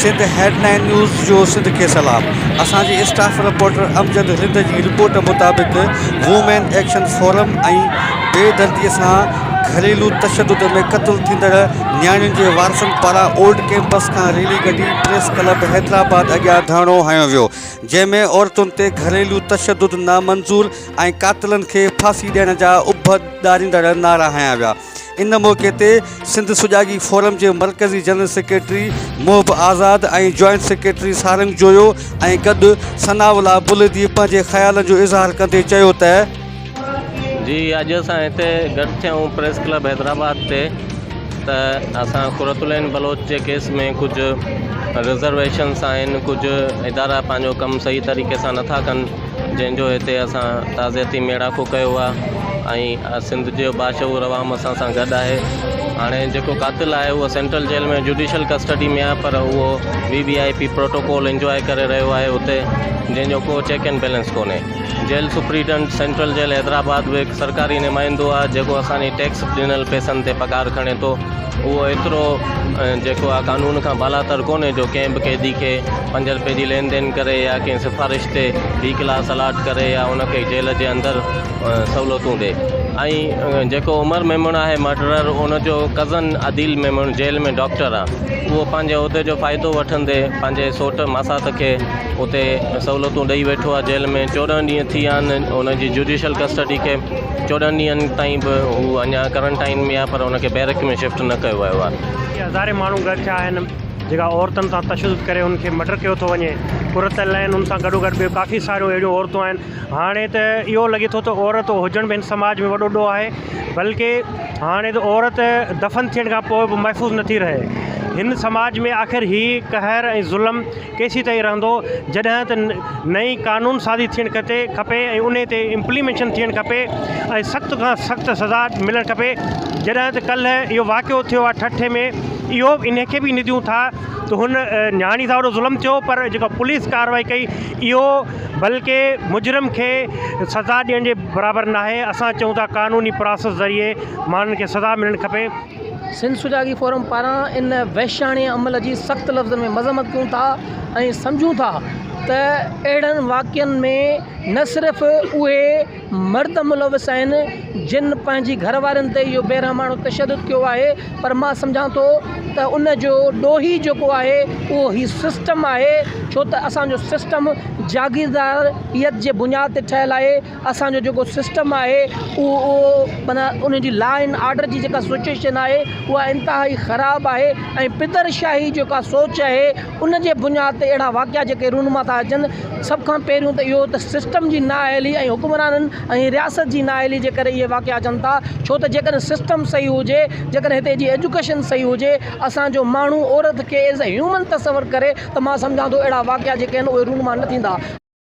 Sindh headline news جو سنڌ کي سلام اسان جي اسٽاف رپورٽر امجد رند جي رپورٽ مطابق وومين ايڪشن فورم ۽ بي دردي سان گهريلو تشدد ۾ قتل ٿيندڙ نياڻين جي وارثن پاران اولڊ ڪئمپس کان ريلي ڪڍي پريس ڪلب حيدرآباد اڳيان ڌرڻو هنيو ويو جنهن ۾ عورتن تي گهريلو تشدد نامنظور ۽ قاتلن کي ڦاسي ڏيڻ جا اڀ ڏاريندڙ نعرا هنيا ويا ان موقعي تي سنڌ سجاڳي فورم جي مرڪزي جنرل سيڪريٽري محب آزاد ۽ جوائنٽ سيڪريٽري سارنگ جويو ۽ گڏ ثناء الله بلدي پنهنجي خيالن جو اظهار ڪندي چيو ته جي اڄ اسان هتي گڏ ٿيا آهيون پريس ڪلب حيدرآباد تي ته اسان قرة العين بلوچ جي ڪيس ۾ ڪجهه رزرويشنس آهن ڪجهه ادارا پنهنجو ڪم صحيح طريقي سان نٿا ڪن جنهن جو هتي اسان تعزيتي ميڙاڪو ڪيو آهي ۽ سنڌ جو باشعور عوام اسان سان گڏ آهي هاڻي جيڪو قاتل آهي اهو سينٽرل جيل ۾ جوڊيشل ڪسٽڊي ۾ آهي پر اهو V V I P protocol enjoy ڪري رهيو آهي هتي جنهن جو ڪو چيڪ اينڊ بيلنس ڪونهي jail superintendent central jail Hyderabad به هڪ سرڪاري نمائندو آهي جيڪو اسان جي ٽيڪس ڏنل پئسن تي پگهار کڻي ٿو اهو ايترو جيڪو آهي قانون کان بالاتر ڪونهي جو ڪنهن به قيدي کي پنج رپئي جي لين دين ڪري يا ڪنهن سفارش تي بي ڪلاس الاٽ ڪري يا ان کي جيل جي اندر سهولتون ڏي ۽ جيڪو عمر ميمڻ آهي مرڊرر ان جو cousin Adeel Memon jail ۾ doctor آهي اهو پنهنجي عهدي جو فائدو وٺندي پنهنجي سوٽ ماسات کي اتي سهولتون ڏئي ويٺو آهي جيل ۾ چوڏهن ڏينهن ٿي ويا آهن ان جي جوڊيشل ڪسٽڊي کي چوڏهن ڏينهن تائين به هو اڃا ڪرنٽائن ۾ آهي پر ان کي بيرڪ ۾ شفٽ نه ڪيو ويو آهي اتي هزارين ماڻهو گڏ ٿيا آهن جيڪا عورتن سان تشدد ڪري ان کي مڊر ڪيو ٿو وڃي قرت العين ان سان گڏو گڏ ٻيو ڪافي ساريون اهڙيون عورتون آهن هاڻي ته اهو لڳي ٿو ته عورت هجڻ به هن سماج ۾ وڏو ڏوهه آهي بلڪه هاڻي ته عورت دفن ٿيڻ کان پوء به محفوظ نٿي رهي هن سماج ۾ آخر هي قهر ۽ ظلم ڪيسين تائين رهندو جڏهن ته نئين قانون سازي ٿيڻ کتي کپي ۽ انهي تي امپليميشن ٿيڻ کپي ۽ سخت کان سخت سزا ملڻ کپي جڏهن ته ڪلهه اهو واقعو ٿيو آهي ٺٽي ۾ اهو انهي کي به نديون ٿا ته هن نياڻي سان وڏو ظلم ٿيو پر جيڪا پوليس ڪاروائي ڪئي اهو بلڪه مجرم کي سزا ڏيڻ جي برابر ناهي اسان چئون ٿا قانوني پراسس ذريعي ماڻهن کي سزا ملڻ کپي سنڌ سجاڳي فورم پاران ان وحشياڻي عمل جي سخت لفظن ۾ مذمت ڪيون ٿا ۽ سمجهون ٿا ته اهڙن واقعن ۾ نه صرف اهي مرد ملوث آهن جن پنهنجي گهر وارين تي اهو بيرحماڻو تشدد ڪيو آهي پر مان سمجهان ٿو ته ان جو ڏوهي جيڪو آهي اهو هي سسٽم آهي ڇو ته اسان جو سسٽم جاگيرداريت جي بنياد تي ٺهيل آهي اسان جو جيڪو سسٽم آهي اهو معنيٰ ان جي لا اينڊ آرڊر جي جيڪا سچويشن آهي اها انتهائي خراب آهي ۽ پدر شاهي جيڪا سوچ آهي ان جي بنياد تي اهڙا واقعا جيڪي رونما ٿا اچن سڀ کان پهريون ته اهو ته سسٽم جي نااهلي ۽ حڪمرانن ۽ رياست جي نااهلي جي ڪري اهي واقعا اچن ٿا ڇو ته جيڪڏهن سسٽم صحيح هجي جيڪڏهن هتي جي ايجوڪيشن صحيح هجي اسان جو ماڻهو عورت کي ايز اي هيومن تصور ڪري ته مان سمجهان ٿو اهڙا واقعا جيڪي آهن اهي رونما نه ٿيندا.